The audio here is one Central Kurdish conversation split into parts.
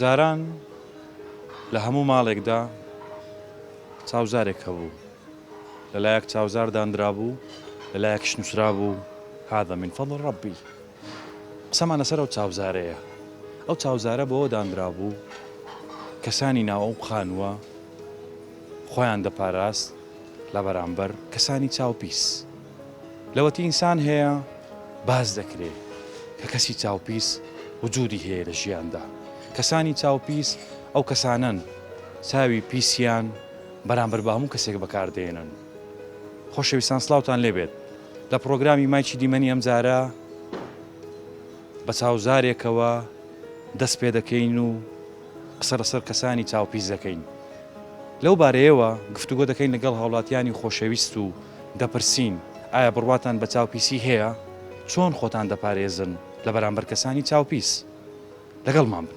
جاران لە هەموو ماڵێکدا چاوزارێک هەبوو لەلایەک چاوزار دانرابوو لەلایەکش نووسرا بوو هذا من فضل ربی قسەمان لەسەر ئەو چاوزارەیە. ئەو چاوزارە بەوە دانرابوو کەسانی ناو ئەو خانووە خۆیان دەپاراست لە بەرامبەر کەسانی چاوپیس. لەوەتی ئینسان هەیە باس دەکرێ کە کەسی چاوپیس وجودی هەیە لە ژیاندا. کەسانی چاوپیس ئەو کەسانەن چاوی پیسیان بەرامبەر بە هەموو کەسێک بەکاردێنن. خۆشەویستان سڵاوتان لێبێت لە پڕۆگرامی مایکی دیمەنی ئەمجارە بە چاوزارێکەوە دەست پێ دەکەین و قسە لەسەر کەسانی چاوپیس دەکەین لەو بارەیەوە گفتوگۆ دەکەین لەگەڵ هاوڵاتیانی خۆشەویست و دەپرسین ئایا بڕواتان بە چاوپیسی هەیە چۆن خۆتان دەپارێزن لە بەرامبەر کەسانی چاوپیس لەگەڵمان بن.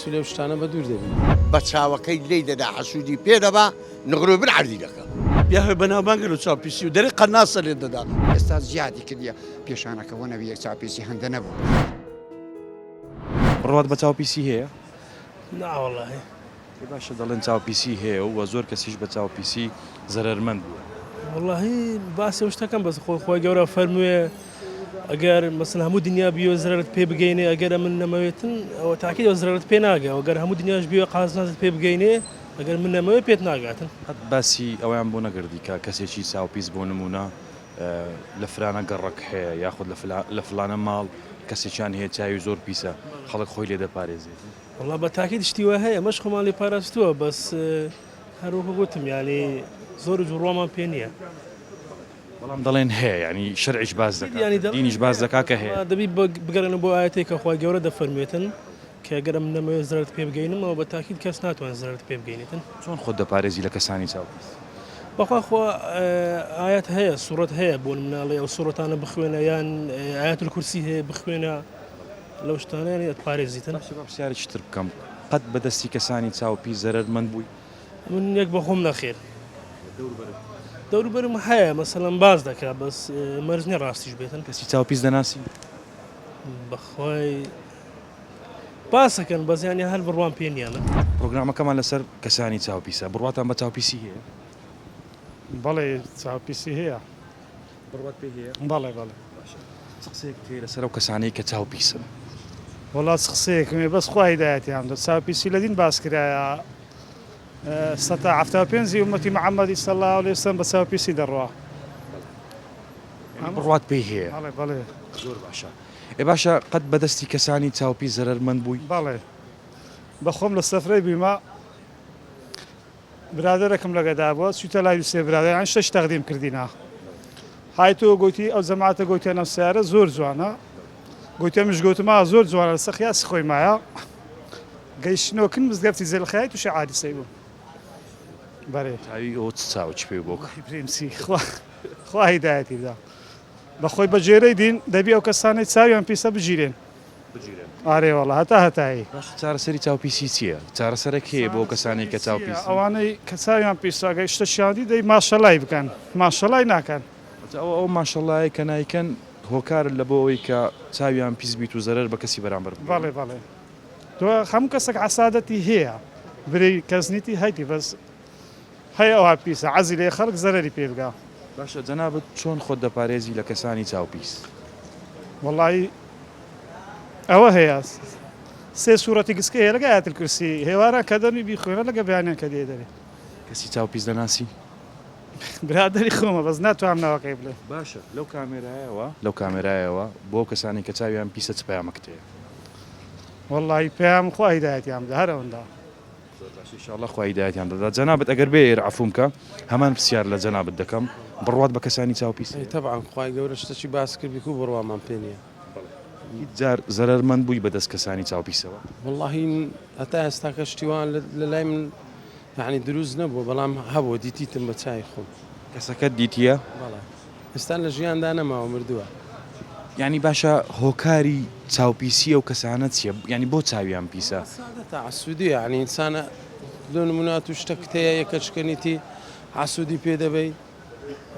چ لەو شتانە بە دوور دەبی. بە چاوەکەی لێی دەدا حەسوودی پێ دەبا نغرۆی بن عەردی دەکا. بیا هۆی بەناوبانگ گەل و چاوپیسی و دەرێ قەرناسە لێت دەدا. ئێستا زیادی کردیە پیشانەکە وە نەبیە چاوپیسی هەندە نەبوو. بڕوات بە چاوپیسی هەیە؟ نا وەڵاهی. ئەی باشە دەڵێن چاوپیسی هەیە و زۆر کەسیش بە چاوپیسی زەرەرمەند بووە. وەڵاهی باسی ئەو شتەکەم بەس خۆ خوای گەورە فەرمووێ. گەر مەسەن هەموو دنیا بیەوێ زەرەرت پێ بگەینێ ئەگەر من نەمەوێتن ئەوە تاکی ئەو زەرەرت پێ ناگە وەگەر هەموو دنیاش بیوێ قازنەزت پێ بگەینێ ئەگەر من نەمەوێ پێت ناگاتن. قەت باسی ئەوەیان بۆ نەگردی کە کەسێکی چاوپیس بۆ نموونە لە فرانە گەڕەک هەیە یاخود لە لە فلانە ماڵ کەسێکیان هەیە چاوی زۆر پیسە خەڵک خۆی لێ دەپارێزێت؟ وەڵا بە تاکید شتی وا هەیە ئەمەش خۆمان لێ پاراستووە بەس هەر وەکو گوتم یانی زۆر جووڕامان پێ نییە. بەڵام دەڵێن هەیە یانی شەرعیش باس دەکات دینیش باس دەکات کە هەیە. دەبی بگەرێنە بۆ ئایەتەی کە خوای گەورە دەفەرموێتن کە ئەگەر ئەمن نەمەوێت زەرەرت پێ بگەینم ئەوە بە تاکید کەس ناتوانێت زەرەرت پێ بگەینێتن. چۆن خۆت دەپارێزی لە کەسانی چاو پیس؟ بەخوا خوا ئایەت هەیە سوڕەت هەیە بۆ مناڵێ ئەو سوڕەتانە بخوێنە یان ئاەت کورسی هەیە بخوێنە لەو شتانیان ئەت پارێزیتن پرسیارێکی تر بکەم قەت بەدەستی کەسانی چاو پیس زەرمەند بووی؟ من یەک بەخۆم نەخێر دەوروبەرم هەیە مەسەلەن باز دەکا بەس مەرج نیە ڕاستیش بێتن کەسی چاو پیس دەناسی بەخوای باسەکەن بەزیانی هەر بڕوان پێ نیانە پرۆگرامەکەمان لەسەر کەسانی چاوپیسە بڕاتان بە چاوپیسی هەیە بەڵێ چاوپیسی هەیە بڕوات پێ هەیە؟ بەڵێ بەڵێ. باشە چ قسەیەکت هەیە لەسەر ئەو کەسانەی کە چاو پیسن؟ وەڵا چ قسەیەکم هەیە بەس خوا هیدایەتیان بدات، چاو پیسی لە دین باس کرایە سەتا حەفتا و پێنجی ئومەتی محەمەدی صلی اللە علیە وسلم بە چاو پیسی دەڕوا. یانی بڕوات پێی هەیە؟ بەڵێ بەڵێ. زۆر باشە. ئێ باشە قەت بە دەستی کەسانی چاو پیس زەرەرمەند بووی؟ بەڵێ بە خۆم لە سەفرەی بوویمە. برادەرەکم لەگەدا بوە چویتە لای دوسێ برادەران شتەکی تەقدیم کردینە هایتوە گۆیتی ئەو جەماتە گۆیتیان ئەم سەیارە زۆر جوانە گۆیتە مش گۆتما زۆر جوانە لەسە خیاسی خۆی مایە گەیشتنەوە کن مزگەفتی زێلخای توشی عادیسەی بوو بەرێ تاوی ئەوە چ چاوە چ پێ بۆک وەڵاهی پرێمسی خوا خوا هیدایەتی بدا بەخۆی بەجێرەی دین دەبی ئەو کەسانەی چاویان پیسە بگیرێن بگیرێن. ئارێ وەڵا هەتا هەتایی. باشە چارەسەری چاو پیسی چیە؟ چارەسەرە کێیە بۆ کەسانەی کە چاو پیسن؟ ئەوانەی کە چاویان پیسە گەر شتە کیان دی دەی ماشەلای بکەن ماشەلای ناکەن. ئەجا ئەوە ئەو ماشەلایە کە نایکەن هۆکارن لە بۆ ئەوەی کە چاویان پیس بیت و زەرەر بە کەسی بەرامبەر بگەیەنن. بەڵێ بەڵێ دۆ هەموو کەسەک عەسادەتی هەیە برێی کەس نیتی هەیتی بەس هەی ئەوها پیسە عەزی لێ خەڵک زەرەری پێ بگا. باشە جەنابت چۆن خۆت دەپارێزی لە کەسانی چاو پیس؟ وەڵایی ئەوە هەیە سێ سورەتی گسکە هەیە لەگە ئایەتل کورسی هێواران کە دەمی بیخوێنە لەگە بەیانیان کە دێ دەرێ. کەسی چاو پیس دەناسی؟ برادەری خۆمە بەس ناتوانم ناوەکەی بڵێم. باشە لەو کامێرایەوە لەو کامێرایەوە بۆ ئەو کەسانەی کە چاویان پیسە چ پەیامەکت هەیە؟ وەڵایی پەیام خوا هیدایەتیان بدا هەر ئەوەندە. زۆر باشە ان شاءاللە خوا هیدایەتیان دەدات جەنابت ئەگەر بێیر عەفوم کە هەمان پسیار لە جەنابت دەکەم بڕوات بە کەسانی چاو پیس هەیە؟ تەبعەن خوای گەورە شتەکی باس کرد بیکو بڕوامان پێ نیە. هیچ جار زەرەر مەند بووی بە دەست کەسانی چاو پیسەوە؟ وەڵاهی هەتا ئێستاکە شتی وا لە لای من یەعنی دروست نەبووە بەڵام هەبووە دیتیتم بە چاوی خۆم. کەسەکەت دیتیە؟ بەڵێ. ئیستا لە ژیاندا نەماوە مردوە. یانی باشە هۆکاری چاوپیسی ئەو کەسانە چیە یانی بۆ چاویان پیسە. حەسادە تەعەسودی یانی ئینسانە لۆ نمونە ئەتو شتە کتەیە یەکە چکەنیتی حەسودی پێ دەبەی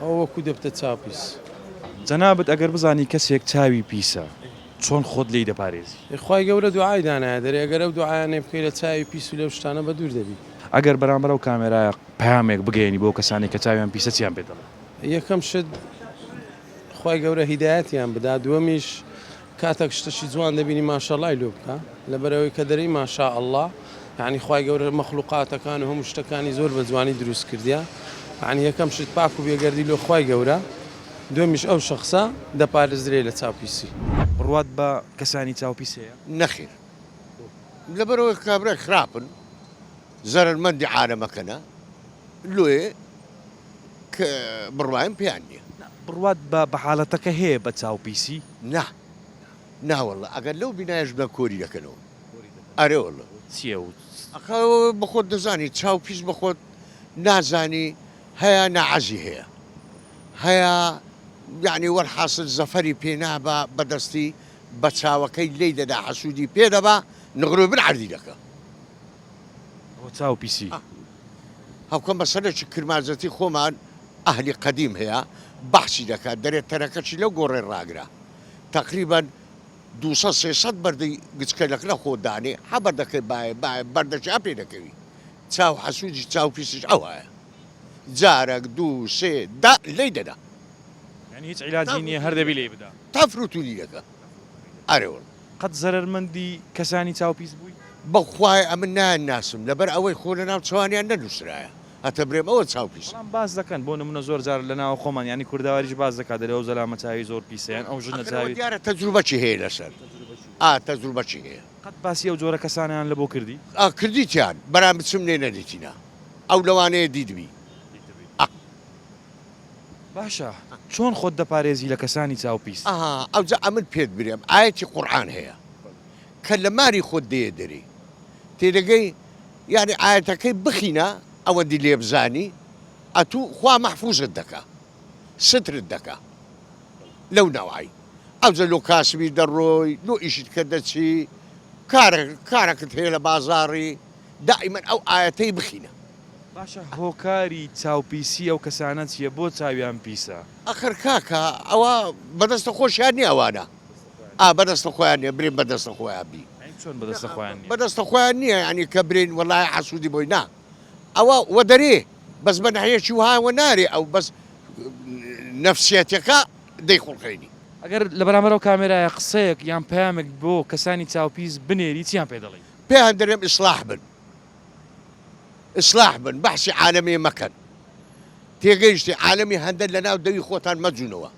ئەوە وەکو دەبتە چاوپیس. جەنابت ئەگەر بزانی کەسێک چاوی پیسە چۆن خۆت لێی دەپارێزی؟ ئێ خوای گەورە دوعای دانایە دەرێ ئەگەر ئەو دوعایانەی بکەی لە چاوی پیس و لەو شتانە بەدوور دەبی. ئەگەر بەرامبەر ئەو کامێرایە پەیامێک بگەیەنی بۆ ئەو کەسانەی کە چاویان پیسە چیان پێ دەڵێی؟ یەکەم شت خوای گەورە هیدایەتیان بدا دووەمیش کاتەک شتەشی جوان دەبینی ماشەڵای لۆ بکە لەبەرەوەی کە دەری ماشا ئەله یعنی خی گەورە مەخلوقاتەکان و هەموو شتەکانی زۆر بە جوانی دروست کردیا یعنی یەکەم شت پاک و بێگەردی لۆ خی گەورە دومیش ئەو شخصە دەپارێزرێ لە چاوپیسی. بڕوات بە کەسانی چاوپیس هەیە؟ نەخێر لەبەرئەوەی کابرای خراپن. زەرەرمەندی عالەمەکەنە لۆیێ ک بڕوایەم پێیان نیە. نا بڕوات بە بە حالەتەکە هەیە بە چاو پیسی؟ نا نا واللە ئەگەر لەو بینایەش بێ کۆری دەکەنەوە ئەرێ واللە. چیە و چ. ئەخە بەخۆت دەزانی چاو پیس بەخۆت نازانی هەیە ناعەزی هەیە هەیە یەعنی وەلحاسل زەفەری پێ نابا بەدەستی بەچاوەکەی لێی دەدا حەسودی پێ دەبا نغرۆی بن عەردی دەکا ڕوچاو پیسی. هەقە مەسەلەکی کرمانجەتی خۆمان ئەهلی قەدیم هەیە بەحسی دەکات دەرێت تەرەکەچی لەو گۆڕێ ڕاگرە تەقریبەن دوو سەد سێ سەد بەردی گچکەلەک لە خۆ دانێ حە بەردەکەی بایە بایە بەردەکی ئەپێ دەکەوی چاو حەسوودی چاو پیسیش ئەوایە جارەک دوو سێ دە لێی دەدا یانی هیچ عیلاجی نیە هەر دەبی لێی بدا تەفروتونی دەکا ئەرێ وەڵا. قەت زەرەرمەندی کەسانی چاوپیس بووی؟ بەخوای ئەمن نایان ناسم لەبەر ئەوەی خۆ لەناو چاوانیان نەنوسرایە هەتە برێم ئەوە چاو پیسە. بەڵام باس دەکەن بۆ نمونە زۆر جار لە ناوە خۆمان یانی کوردەواریش باس دەکات دەلێ ئەو زەلامە چاوی زۆر پیسە یان ئەو ژنە چاوی. ئەخر ئەوە دیارە تەجروبەکی هەیە لەسەر ئا تەجروبەکی هەیە. قەت باسی ئەو جۆرە کەسانەیان لە بۆ کردی؟ ئا کردیتیان بەرام بچم لێ نەدیتینا ئەو لەوانەیە دیتبی ئا. باشە چۆن خۆت دەپارێزی لە کەسانی چاو پیس؟ ئەها ئەوجا ئەمن پێت برێم ئایەتی قورئان هەیە کە لە ماری خۆت دێیە دەری تێدەگەی یانی ئایەتەکەی بخینە ئەوەندی لێبزانی ئەتو خوا مەحفوزت دەکا سترت دەکا لەو نەوعەی ئەوجە لۆ کاسبی دەڕۆی لۆ ئیشتکە دەچی کارە کارەکت هەیە لە بازاڕی دائیمەن ئەو ئایەتەی بخینە. باشە هۆکاری چاوپیسی ئەو کەسانە چیە بۆ چاویان پیسە؟ ئەخر کاکە ئەوە بەدەستە خۆشیان نیە ئەوانە ئا بەدەستە خۆیان نیە برێن بەدەستە خۆیان بی یانی چۆن بەدەستە خۆیان نیە؟ بەدەستە خۆیان نیە یانی کە برێن وەلایە حەسودی بۆی نا ئەوە وەدەرێ بەس بە نەحیەکی وەها وەنارێ ئەو بەس نەفسیەتەکە دەیخوڵقێنی. ئەگەر لەبەرامبەر ئەو کامێرایە قسەیەک یان پەیامێک بۆ کەسانی چاوپیس بنێری چیان پێ دەڵێی؟ پێیان دەرێم ئیسلاح بن ئیسلاح بن بەحسی عالەمی مەکەن تێگەیشتی عالەمی هەندە لە ناو دەوی خۆتان مەجونەوە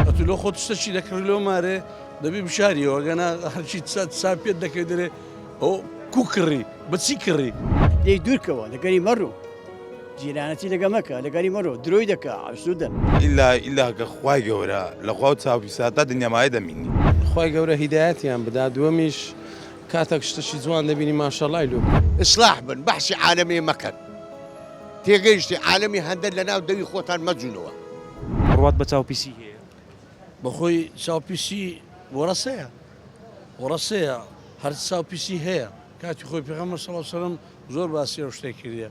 ئەتو لۆ خۆت شتە چی دەکڕی لۆ مارێ دەبی بشاریەوە گەنا هەرچی سا پێت دەکەی دەرێ ئەو کو کڕی بەچی کڕی لێ دوورکەوە لەگەری مەڕوو جیرانەتی لەگە مەکە لەگەری مەڕۆ درۆی دەکە ئاسوودە ئللا ئیلاکە خی گەورە لە خوا و چاوی ساتا دنیامایە دەمینی. خوای گەورە هیدایەتیان بدا دووەمیش کاتەک شتەکی جوان دەبینی ماشەڵای لۆ بکە. ئیسلاح بن بەحسی عالەمێ مەکەن تێگەیشتی عالەمی هەندە لەناو دەوی خۆتان مەجونەوە. بڕوات بە چاو پیسی هەیە. بەخۆی چاو پیسی وەڕەسەیە وەڕەسەیە هەر چاو پیسی هەیە کاتی خۆی پێغەمبەر صلی اللە علیە وسلم زۆر باسی ئەو شتەی کردیە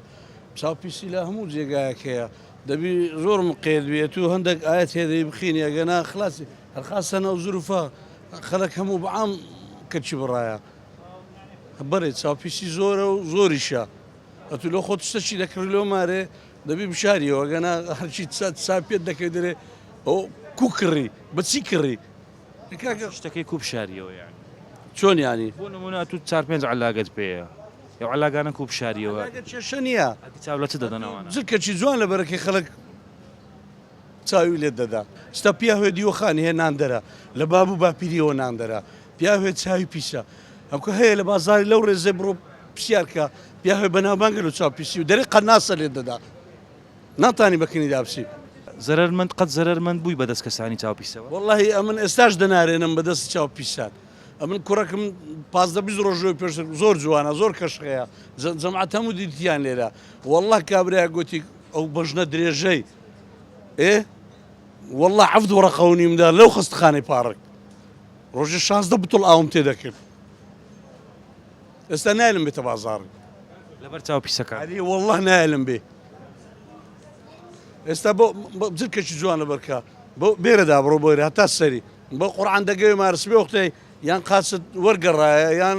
چاو پیسی لە هەموو جێگایەک هەیە دەبی زۆر مقێد بێت و هەندێک ئایەت هەیە دەی بخینی ئەگەنا خلاسی خاصەن ئەو زروفە خەلک هەموو بەعام کەچی بڕایە بەێ چاپیسی زۆرە و زۆریشە ئەتو لۆ خۆت سەچی دەکڕی لۆ مارێ دەبی بشاریەوە گەنا هەرچی ساپێت دەکەی درێ ئەو کو کڕی بەچی کڕی شتەکەی کوب شاریەوە یان چۆن ینی بۆ نمونە تو چار پێنج علاگەت پێەیە یو علاگانە کوب شاریەوە کێشە نییە چاو لە چ دەدەنەوە کەچی جوان لە بەرەکەی خەلک چاوی لێ دەدا. ستا پیاوێ دیوەخانی هەیە ناندەرە، لە باب و باپیرییەوە ناندەرە. پیاوێ چاوی پیسە. ئەوکە هەیە لە بازاڕی لەو ڕێزەی بڕۆ پرسیار کە، پیاوێ بەناوبانگە لەو چاوپیسی و دەرێ قەناسە لێت دەدا. ناتانی بە کنیدا بچی. زەرەرمەند قەت زەرەرمەند بووی بە دەست کەسانی چاوپیسەوە؟ وەڵاهی ئەمن ئێستاش دەنارێنم بە دەست چاوپیسان. ئەمن کوڕەکم پازدە بیست ڕۆژ لەوەی پێشتر زۆر جوانە، زۆر کەشخەیە. جەماعەت هەموو دیتیان لێرە. وەڵا کابرایەک گۆتی ئەو بەژنە درێژەی. ئێ وەڵا حەفت وەڕەقە و نیمدا لەو خەستخانەی پاڕک ڕۆژێ شازدە بتڵ ئاوم تێ دەکرد ئێستا نایلم بێتە بازاڕی لەبەر چاو پیسەکە ئەری وەڵا نایلم بێ ئێستا بۆ جلکەکی جوانە بەرکە بۆ بێرەدا بڕۆ بۆێ هەتا سەری بۆ قڕان دەگەێ مارسبێ وەختەی یان قاچت وەرگەڕایە یان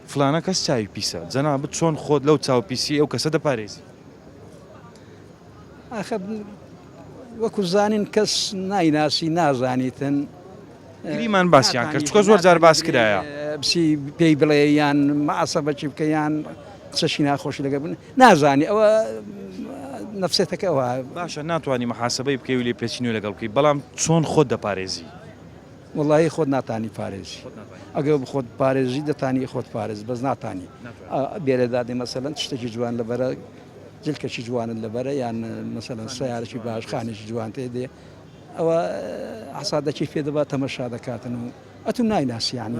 فلانە کەس چاوی پیسە، جەنابت چۆن خۆت لەو چاو پیسیەی ئەو کەسە دەپارێزی؟ ئاخە وەکو زانین کەس نایناسی نازانیتن. گریمان باسیان کرد چکە زۆر جار باس کرایە بسی پێی بڵێ یان مەعسەبەکی بکە یان قسەشی ناخۆشی لەگە بن نازانی ئەوە نفسێتەکە ئەوە باشە ناتوانانی محاسبەی بکەی و لێ پێچینوی لەگەڵ بکەی بەڵام چۆن خۆت دەپارێزی وەڵاهی خۆت ناتانی پارێزی ئەگەر بخۆت پارێزی دەتانی خۆت پارێز بەس ناتانی بێرە دادی مەسەلەن شتێکی جوان لەبەرە جلکەشی جوانن لەبەرە یان مەسەلەن سیارەی باش خانێکی جوان تێ دێ ئەوە حسادەکی پێ دەبات تەمەشا دەکاتن و ئەتو نایناسیانی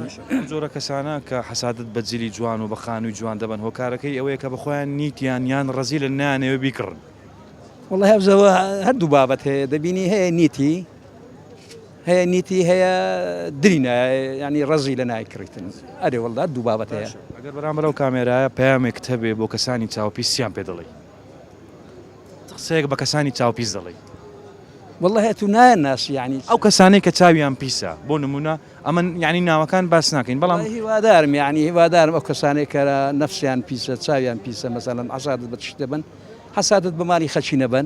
جۆرە کەسانە کە حسادت بە جلی جوان و بە خانووی جوان دەبن هۆکارەکەی ئەوەیە کە بەخۆیان نیتیان یان ڕزی لە نانەوە بیکڕن وڵی هەبزەوە هەردوو بابەت هەیە دەبینی هەیە نیتی هەیە نیتی هەیە دری نایە یعنی ڕەزی لە نای کڕیتن ئەرێ وەڵدا دوو بابەت هەیە ئەگەر بەرامبەر ئەو کامێرایە پەیامێکت هەبێ بۆ کەسانی چاوپیس چیان پێ دەڵێی قسەیەک بە کەسانی چاوپیس دەڵێی والله هەیە تو نایە ناسی یعنی ئەو کەسانەی کە چاویان پیسە بۆ نمونە ئەمن یعنی ناوەکان باس ناکەین بەڵام والله هیوادارم یعنی هیوادارم ئەو کەسانەی کە نەفسیان پیسە چاویان پیسە مەسەلەن عەزادت بە تشت دەبەن حەسادت بە مالی خەلکی نەبەن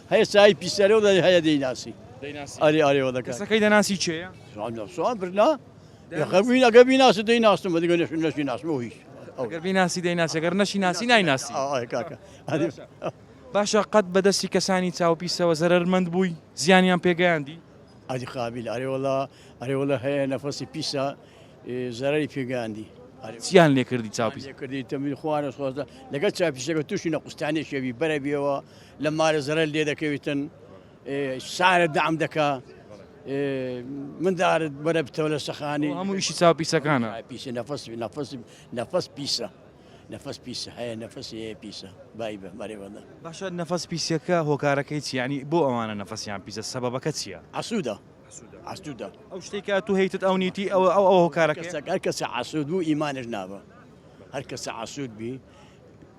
هەیە چایی پیسەرەوە دەی هەیە دەیناسی دەیناسی ئاری ئاری وە دەکات کەسەکەی دەناسی چێە سوان برنا خەبووین ئەگە بیناسی دەیناستم دیگە نەش نەشی ناسمەوە هیچ ئەگەر بیناسی دەیناسی ئەگەر نەشی ناسی نایناسی کاکە باشە قەت بەدەستی کەسانی چاوپیسەوە زەرمەند بووی زیانیان پێگەیاندی ئەدی قابل ئەرێوەڵا ئەرێوەڵە هەیە نەفەسی پیسە زەرری پێگەاندی چیان لێکردی چاپی کردی تەمی خوارە خۆزە لەگەڵ چاپیشەکە تووشی نە قوستانێکێوی بەرە بێەوە لە مارە زەرەر لێ دەکەویتن سارە دام دەکا من دارت بەرە بتەوە لە سەخانی هەموو ئیشی چاو پیسەکانە پیسی نەفس نەفس نەفس پیسە نەفس پیسە هەیە نەفس هەیە پیسە بای بە مەرێوەدا باشە نەفس پیسەکە هۆکارەکەی چیانی بۆ ئەوانە نەفسیان پیسە سەبەکە چییە ئاسوودە ئاسوودە ئەو شتێکە تو هیتت ئەو نیتی ئەو ئەو ئەو هۆکارەکە کەسە عسوود بوو ئیمانش نابە هەر کەسە عسوود بی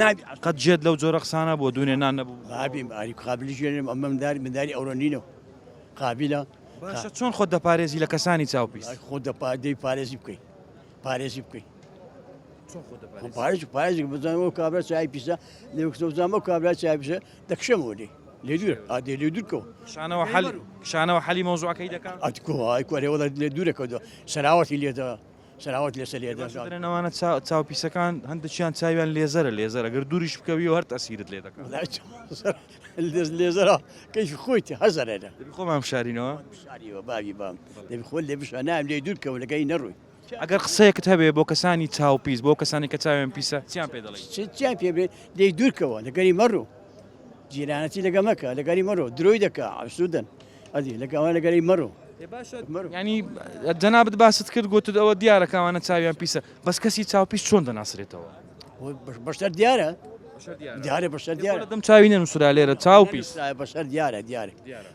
نابی قەت جێت لەو جۆرە قسانە بۆ دوونێ نان نەبوو بابیم ئاری قابلی ژێنم ئەمە منداری منداری ئەوڕۆ نینەوە قابلە باشە چۆن خۆت دەپارێزی لە کەسانی چاو پیس خۆ دەپا دەی پارێزی بکەیت پارێزی بکەیت پارێز پارێز بزانەوە کابرا چای پیسە لێکسەوزانەوە کابرا چای پیسە دەکشەمەوە لێ لێ دوور ئادێ لێ دوورکەوە شانەوە حەل شانەوە حەلی مۆزوعەکەی دەکات ئەتکۆ ئای کوێ وڵات لێ دوورەکەوە سەراوەتی لێدا سلاوت لەسەر یە دەست دەرێن ئەوانە چاو پیسەکان هەندێکیان چاویان لێزەرە لێزەر ئەگەر دووریش بکەوی هەر تەسیرت لێ دەکات لێزەرە کەیش خۆیتی هەزەرە خۆمان شارینەوە شاریەوە باوی بام دەبی خۆل لێ بشە نام لێ دوور کەەوە لەگەی نەڕووی ئەگەر قسەیەکت هەبێ بۆ کەسانی چاو پیس بۆ کەسانی کە چاوێن پیسە چیان پێ دەڵێ چیان پێ بێ دەی دوورکەوە لەگەری مەڕوو جیرانەتی لەگە مەکە لەگەری مەڕۆ درۆی دەکە ئەسوودن ئەزی لەگە ئەوە لەگەری مەڕۆ ینی جەنابەت باست کرد گوتت ئەوە دیارە کاوانە چاویان پیسە بەس کەسی چاوپیس چۆن دەناسرێتەوە بەشتر دیارە دیارە بەشە دیارە دەم چاوی نەنووسرا لێرە چاو پیس بەشەر دیارە دیارە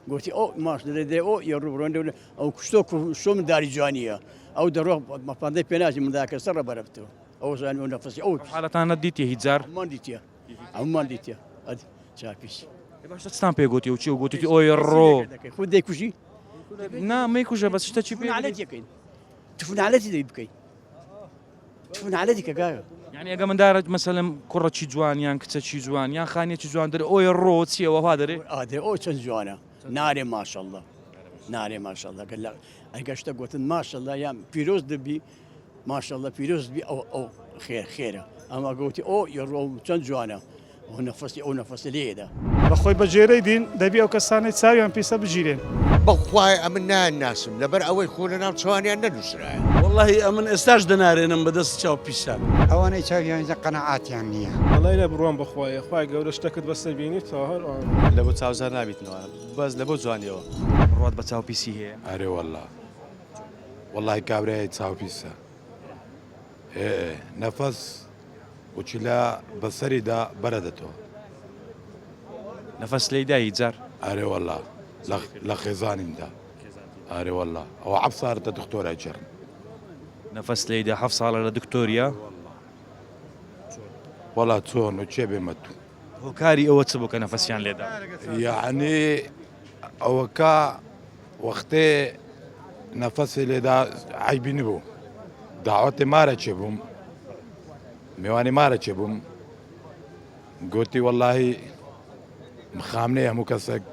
گوتی ئەو ماش دەێ ئەو یە ڕوبڕۆن دەون ئەو کوشتۆ شۆم داری جوانیە ئەو دەڕۆ مەپاندەی پێناژی منداکە سەر ڕە بەرەفتەوە ئەو ژان و نەفسی ئەو حالەتانە دیتی هیجار من دیتە ئەومان دیتە چاپیش باشە چتان پێ گوتی و چی و گوتی ئۆی ڕۆ خود دەیکوژی نامی کوژە بە شتە چی پێکەین تفنالەتی دەی بکەین تفنالەتی کە گاوە یعنی ئەگە من دارت مەسەلم کوڕەچی جوان یان کچەچی جوان یان خانیەکی جوان دەر ئەوی ڕۆ چیەوەها دەێ ئادێ ئەو چەند جوانە نارێ ماشەڵە نارێ ماشەڵەکە لە ئەگەشتە گوتن ماشەڵە یان پیرۆز دەبی ماشااللە پیرۆزت بی ئەو ئەو خێر خێرە ئەمە گەوتی ئۆ یە ڕۆ چەند جوانە ئەو نەفەسی ئەو نەفەسە لێدا. بەخۆی بە گێرەی دین دەبی ئەو کەسانەی چاویان پیسە بگیرێن. بەخوای ئەمن نایان ناسم لەبەر ئەوەی خۆ لەناو چوانیان نەنوسرایە. وەڵاهی ئەمن ئێستاش دەنارێنم بە دەست چاو پیسان. ئەوانەی چاویان زە قەناعاتیان نیە. وەڵای لە بڕوام بەخوای. خوای گەورە شتەکت بەسەر بینی تاهەر ئۆ. لەبۆ چاوزار نابیتنەوە بەس لەبۆ جوانیەوە. بڕوات بە چاو پیسی هەیە. ئەرێ واللە. وەڵاهی کابرای چاو پیسە ئێ نەفەس وچلە بەسەریدا بەرە دەتۆ نەفەس لێی دایی جار ئارێ وەڵا لە خێزانیندا ئارێ وەڵا ئەو عەب سارتە دکتۆرای جڕ نەفەس لێیدا حەف ساڵە لە دکتۆریە وەڵا چۆن و چێ بێمە تو هۆکاری ئەوە چ بوو کە نەفەسیان لێدا؟ یەعنی ئەوەکە وەختێ نەفەسی لێدا عیبی نبوو داوەتێ مارە چێ بووم میوانی مارە چێ بووم گوتی وەلهی مخامنێ هەموو کەسێک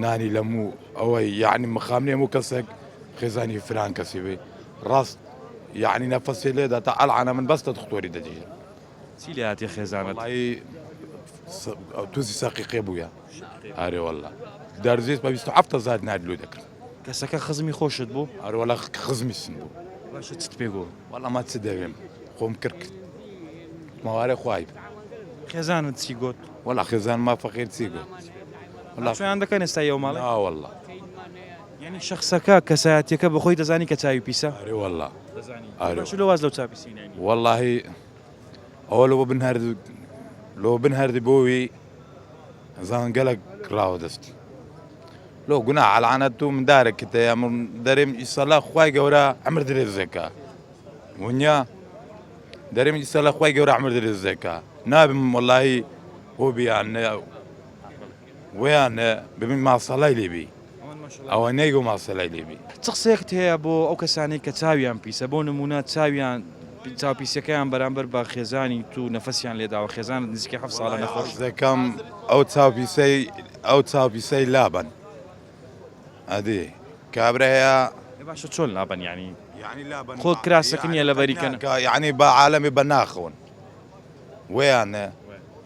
نانی لە موو ئەوەی یعنی مخامنێ هەموو کەسێک خێزانی فران کەسی بێ ڕاست یعنی نەفەسێ لێدا تا ئەلعانە من بەستە دختۆری دەجێت چی لێ هاتیە خێزانت. وەڵایی توزی ساقی قێ بوویە. ئارێ وەڵا دارزێت بە بیست و حەفت هەزار نارد لۆ دەکرد. کەسەکە خزمی خۆشت بوو؟ ئارێ وەڵا خزمی سم بوو. باشە چت پێ گۆ. وەڵا ما چ دەوێم خۆم کڕ کرد ماوارێ خوای بوو. خێزانت چی گۆت؟ وەڵا خێزانم ما فەقێر چی گۆت. وەڵا. ناچۆیان دەکەن ئێستا یەو ماڵەی؟ نا وەڵا. یانی شەخسەکە کەسایەتیەکە بەخۆی دەزانی کە چاوی پیسە؟ ئەرێ وەڵا دەزانی ئەرێ باشە لۆ واز لەو چاو پیسیەی ناینی؟ وەڵاهی ئەوە لۆ بن هەرد لۆ بن هەردی بۆوی زان گەلەک ڕاوە دەستی لۆ گوناح لەعنەت تو مندارە کتەیە من دەرێم ئیسەلا خوای گەورە عەمر درێزێکە ونیا دەرێم ئیسەلا خوای گەورە عەمر درێزێکە نابم وەڵاهی هۆبیان وەیان ببین ماساڵای لێ بی ئەوە نەیگۆ ماسەلای لێ بی. چ قسەیەکت هەیە بۆ ئەو کەسانەی کە چاویان پیسە بۆ نمونە چاویان چاوپیسیەکەیان بەرامبەر بە خێزانی تو نەفەسیان لێداوە خێزانت نزیکەی حەفت ساڵە نەخۆش دەکەم ئەو چاوپیسەی ئەو چاوپیسەی لابەن ئەدی کابرایە باشە چۆن لابەن یعنی یعنی لابەن خۆ کراسەکە نیە لەبەریکەن یعنی بە عالەمی بە ناخەون وەیانە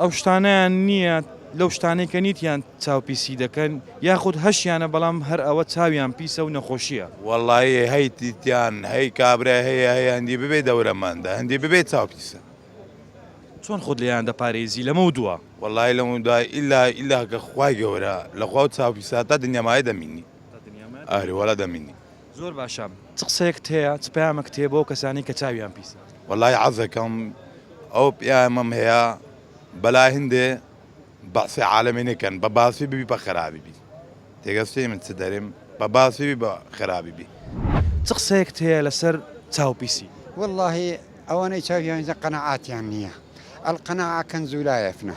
ئەو شتانەیان نییە، لەو شتانەی کە نیتیان چاو پیسی دەکەن، یاخود هەشیانە بەڵام هەر ئەوە چاویان پیسە و نەخۆشییە. وەڵایی هەی تیتیان هەی کابرای هەیە هەی هەندی ببێ دەورە مەندە هەندی ببێ چاو پیسە. چۆن خۆت لێیان دەپارێزی لەمەو دوا؟ وەڵایی لەمەو دوا ئیلا ئیلا کە خوای گەورە لە خوا و چاو پیسا تا دنیا مایە دەمینی ئاری وەڵا دەمینی زۆر باشە چ قسەیەکت هەیە چ پەیامەکت هەیە بۆ ئەو کەسانەی کە چاویان پیسە. وەلای عەزەکەم ئەو پیامەم هەیە بەلای هندێ بەعسی عالەمی نەکەن بە باسی ببی بە خەرابی بی تێگەشتی من چ دەریم بە باسی بی بە خەرابی بی. چ قسەیەکت هەیە لەسەر چاو پیسی. وەللەهی ئەوانەی چاویان پیسە قەناعاتیان نیە القناعە کنز لا یفنا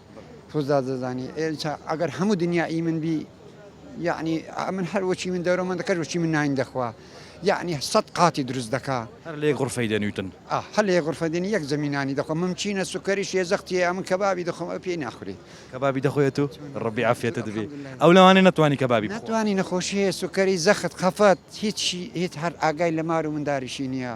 تۆ زاز دەزانی ئێنچا ئەگەر هەموو دنیا ئی من بی یەعنی من هەر وەچی من دەرۆ من دەکەر وەچی من ناین دەخوا یەعنی سەد قاتی دروست دەکا هەر لە یەک غرفەی دەنویتن. ئا هەر لە یەک غرفە دێن یەک زەمی نانی دەخۆن من چینە سوکەری شێزەختی ئەمن کەبابی دەخۆم ئەو پێی ناخوری. کەبابی دەخۆیت و ڕەبی عافیەتت بی ئەو لەوانەیە نەتوانی کەبابی بخوا. نەتوانی نەخۆشی هەیە سوکەری زەخت خەفەت هیچ هیچ هەر ئاگای لە مار و منداریشی نیە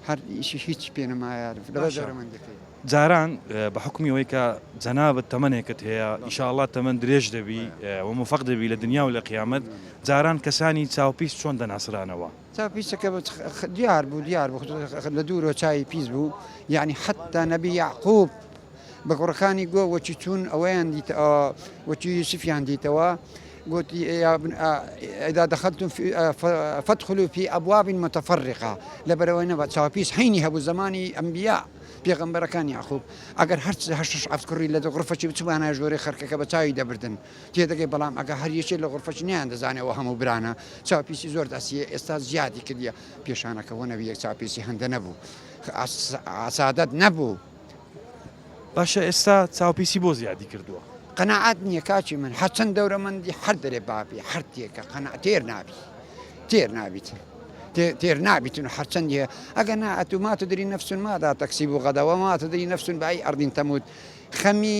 هەر ئیشی هیچ پێ نەمایە لەبەر دەورەمەندەکەی. جاران بە حوکمی ئەوەی کە جەنابت تەمەنێکت هەیە ئیشاڵڵا تەمەن درێژ دەبی و موفەق دەبی لە دنیا و لە قیامەت، جاران کەسانی چاو پیس چۆن دەناسرانەوە؟ چاو پیسەکە دیار بوو دیار بوو لە دوورەوە چاوی پیس بوو یانی حەتتا نەبی یەعقووب بە کوڕەکانی گۆ وەچی چوون ئەوەیان دیتە وەچی یوسفیان دیتەوە گوتی، اذا دخلتم فادخلوا فی ابواب متفرقە، لەبەرئەوەی نەبا چاوپیس حینی هەبوو زەمانی ئەنبیا، پێغەمبەرەکان، یەعقوب، ئەگەر هەر شەش حەفت کوڕی لە غرفەکی بچوانایە ژوورەی خرکەکە بە چاوی دەبردن تێدەگەی بەڵام ئەگەر هەر یەکێ لە غرفەکی نەیاندەزانی ئەوە هەموو برانە چاوپیسی زۆر دەسیە ئێستا زیادی کردیە پێشانەکە وە نەبیە چاوپیسی هەندە نەبوو سادەت نەبوو. باشە ئێستا چاوپیسی بۆ زیادی کردووە. قەناعەت نیە کاکی من هەرچەن دەورەمەندی هەر دەرێ بابی هەر تێکە قەناعەت تێر نابی تێر نابیت تێر نابیتن و هەرچەندی هەیە ئەگە نا ئەتو ما تدری نفس ماذا تکسب غدا وما تدری نفس بأي أرض تموت خەمی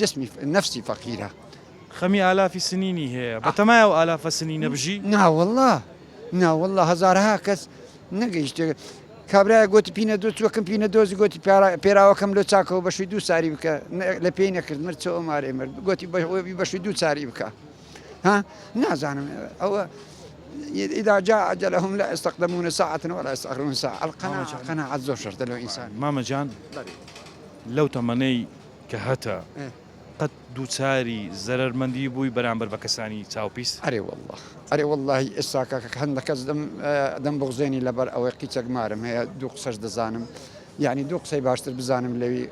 جسمی نفسی فەقیرە. خەمی ئالافی سنینی هەیە. بەتەمایە ئەو ئالافە سنینە بژی؟ ناوەڵڵا ناوەڵڵا هەزارەها کەس نەگەیشتێ کابرایەک گۆتی پینە دۆ چوە کم پینە دۆزی گۆتی پێراوەکەم لۆ چاکەوە بەشوی دوو ساری بکە لە پێی نەکرد مرد چۆ ئۆمارێ مرد گۆتی بەشوی دوو چاری بکە ها نازانم ئەوە إذا جاء أجلهم لا يستقدمون ساعة ولا يستأخرون ساعة القناعة قناعة زۆر شەرتە لەو ئینسان مامە جان لەو تەمەنەی کە هەتە قەت دووچاری زەرەرمەندی بووی بەرامبەر بە کەسانی چاو پیس؟ ئەرێ واللە ئەرێ واللەهی ئێستا کاکە هەندە کەس دەم دەم بغزێنی لەبەر ئەوەی قیچەک مارم هەیە دوو قسەش دەزانم یعنی دوو قسەی باشتر بزانم لەوی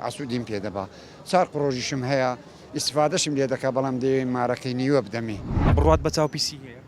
عسوودیم پێ دەبا چار قڕۆژیشم هەیە ئیسفادەشم لێ دەکا بەڵام دەیەوێ مارەکەی نیوە بدەمێ. بڕوات بە چاو پیسی هەیە؟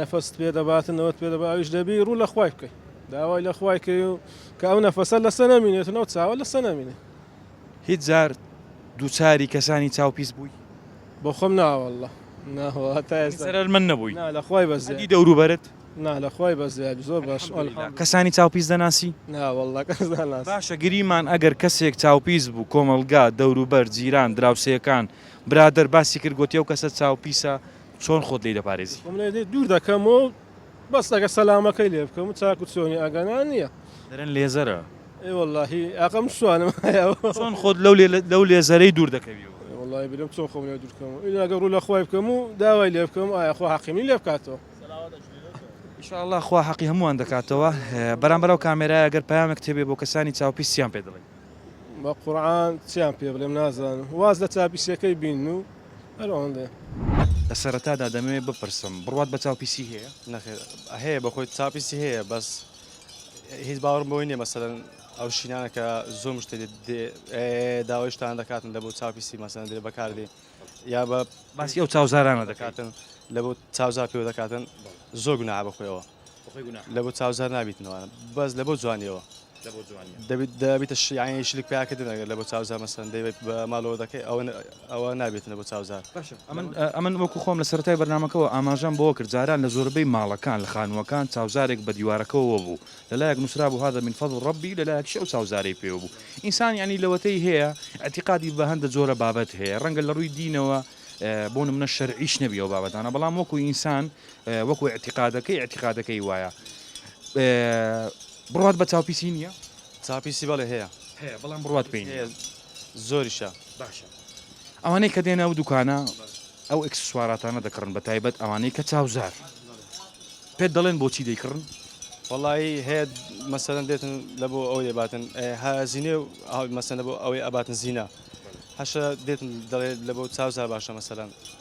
نەفەست پێ دەباتن ئەوەت پێ دەبا ئەویش دەبی ڕوو لە خوای بکەی داوای لە خوای کەی و کە ئەو نەفەسە لەسە نەمینێت و نەو چاوە لەسە نەمینێ هیچ جار دووچاری کەسانی چاو پیس بووی بۆ خۆم ناوەله ناهواتایسەر من نەبووی لە خوای بەزی دەوروبەرت نا لە خوای بەزیاد زۆر باش کەسانی چاو پیس دەناسی ناوەله باشە گریمان ئەگەر کەسێک چاو پیس بوو کۆمەلگا دەوروبەر جیران دراوسێکان برادەر باسی کرد گۆتی ئەو کەسە چاو پیسە چۆن خۆت لێی دەپارێزی؟ خۆم لێی دوور دەکەم و بەس ئەگەر سەلامەکەی لێ بکەم و چاک و چۆنی ئەگەنا نییە. دەرێن لێزەرە. ئێ وەڵاهی ئاقا من شوانم هەیە. چۆن خۆت لەو لێزەرەی دوور دەکەوی؟ وەڵاهی برێم چۆن خۆم لێ دوور بکەم و ئیلا ئەگەر ڕوو لە خوای بکەم و داوای لێ بکەم ئایا خوا حەقی منی لێ بکاتەوە؟ ان شاء اللە خوا حەقی هەمووان دەکاتەوە. بەرامبەر ئەو کامێرایە ئەگەر پەیامێکت هەبێ بۆ کەسانی چاوپیس چیان پێ دەڵێی؟ بە قورعان چیان پێ بڵێم نازانم واز لە چاپیسیەکەی بین و. لە سەرەتادا دەمەوێت بپرسم بڕوات بە چاو پیسی هەیە؟ نەخێر هەیە بەخۆی چاو پیسی هەیە بەس هیچ باوەڕم بۆی نییە مەسەرەن ئەو شینانە کە زۆر مشتێ داوای شتان دەکاتن لە بۆ چاو پیسی مەسەن درێ بەکاردێ یا بە باسی ئەو چاوزارانە دەکاتن لە بۆ چاوزار پێوە دەکاتن زۆر گوناها بەخۆیەوە لەبۆ چاوزار نابیتنەوە بەس لەبۆ جوانیەوە دەبیتە شیعانی شلک پیاکردن ئەگەر لەبۆ چاوزار مەسەن دەبێت بە ماڵەوە دەکەی ئەوە ئەوە نابێتنە بۆ چاوزار ئەمن وەکو خۆم لە سەرای بەرنمەکەەوە ئاماژەم بۆ کرد جاران لە زۆربەی ماڵەکان لە خانووەکان چاوزارێک بە دیوارەکەەوە بوو لەلایەک نووسرا بوو هادا من فەضل ڕبی لەلایەک شەو چاوزارەی پێوە بوو ئینسان ینی لەوەتەی هەیە ئەتیقادی بە هەندە جۆرە بابەت هەیە ڕەنگە لە ڕووی دینەوە بۆ منە شەرعیش نەبیەوە بابەتانە بەڵام وەکو ئینسان وەکو ئیعتیقادەکەی ئیعتیقادەکەی وایە بڕوات بە چاوپیسی نییە؟ چاپیسی بەڵێ هەیە هەیە بەڵام بڕوات پێی نییە زۆریشە باشە ئەوانەی کە دێنە ئەو دوکانە ئەو ئەکسسواراتانە دەکڕن بە تایبەت ئەوانەی کە چاوزار پێت دەڵێن بۆچی دەیکڕن وەڵایی هەیە مەسەرەن دێتن لە بۆ ئەو دەباتن هازینێ و مەسەن لە بۆ ئەوەی ئەباتن زینا هەشە دێتن دەڵێت لە بۆ چاوزار باشە مەسەرەن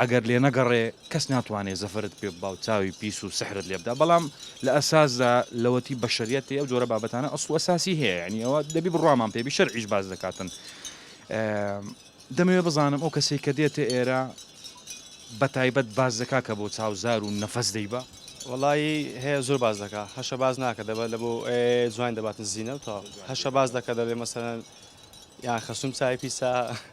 ئەگەر لێنەگەڕێ کەس ناتوانێ زەفەرت پێ ببا و چاوی پیس و سحرت لێ بدا بەڵام لە ئەساسدا لەوەتی بەشەریەت هەیە ئەو جۆرە بابەتانە ئەسڵ و ئەساسی هەیە یانی ئەوە دەبی بڕوامان پێ بی شەرعیش باس دەکاتن دەمەوێ بزانم ئەو کەسێک کە دێتە ئێرە بە تایبەت باس دەکا کە بۆ چاوزار و نەفەس دەیبا وڵی هەیە زۆر باز دەکا هەشە باز ناکە دەبە لە بۆ جوان دەباتن زیینە و تا هەشە باز دەکە دەڵێ مەسەن یان خەسوم چای پیسا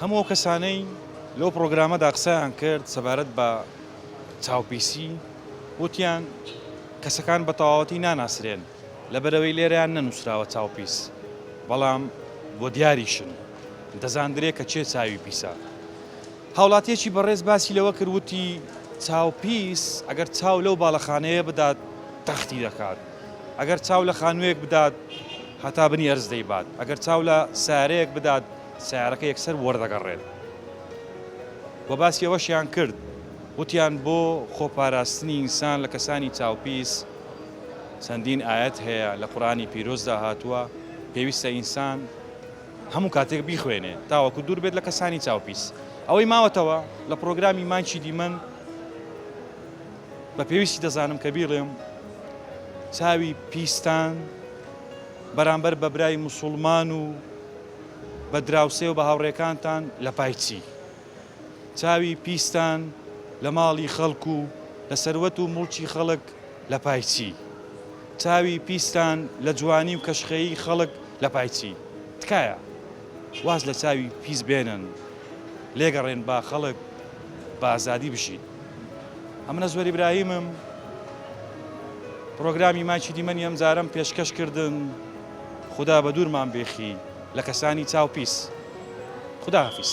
هەموو ئەو کەسانەی لەو پرۆگرامەدا قسەیان کرد سەبارەت بە چاوپیسی وتیان کەسەکان بە تەواوەتی ناناسرێن لەبەرەوەی لێرەیان نەنووسراوە چاوپیس بەڵام بۆ دیاریشن دەزاندرێ کە چێ چاوی پیسە هاوڵاتیەکی بەڕێز باسی لەوە کرد وتی چاوپیس ئەگەر چاو لەو باڵەخانەیە بدات تەختی دەکات ئەگەر چاو لە خانوویەک بدات هەتا بنی ئەرز دەیبات، ئەگەر چاو لە سەیارەیەک بدات سەیارەکە یەکسەر وەردەگەڕێت. وە باسی ئەوەشیان کرد وتیان بۆ خۆپاراستنی ئینسان لە کەسانی چاوپیس چەندین ئایەت هەیە لە قورئانی پیرۆزدا هاتووە پێویستە ئینسان هەموو کاتێک بیخوێنێ تاوەکو دوور بێت لە کەسانی چاوپیس. ئەوەی ماوەتەوە لە پڕۆگرامی مایکی دیمەن، بە پێویستی دەزانم کە بیڵێم چاوی پیستان بەرامبەر بە برای مسوڵمان و بە دراوسێ و بە هاوڕێکانتان لە پای چی؟ چاوی پیستان لە ماڵی خەڵک و لە سەروەت و موڵکی خەڵک لە پای چی؟ چاوی پیستان لە جوانی و کەشخەیی خەڵک لە پای چی؟ تکایە واز لە چاوی پیس بێنن لێگەڕێن با خەڵک بە ئازادی بژین ئەمن ئەزوەر ئیبراهیمم پرۆگرامی ماچی دیمەنی ئەم جارم پێشکەش کردن خودا بە دوورمان بێخی لە کەسانی چاو پیس خداحافیز.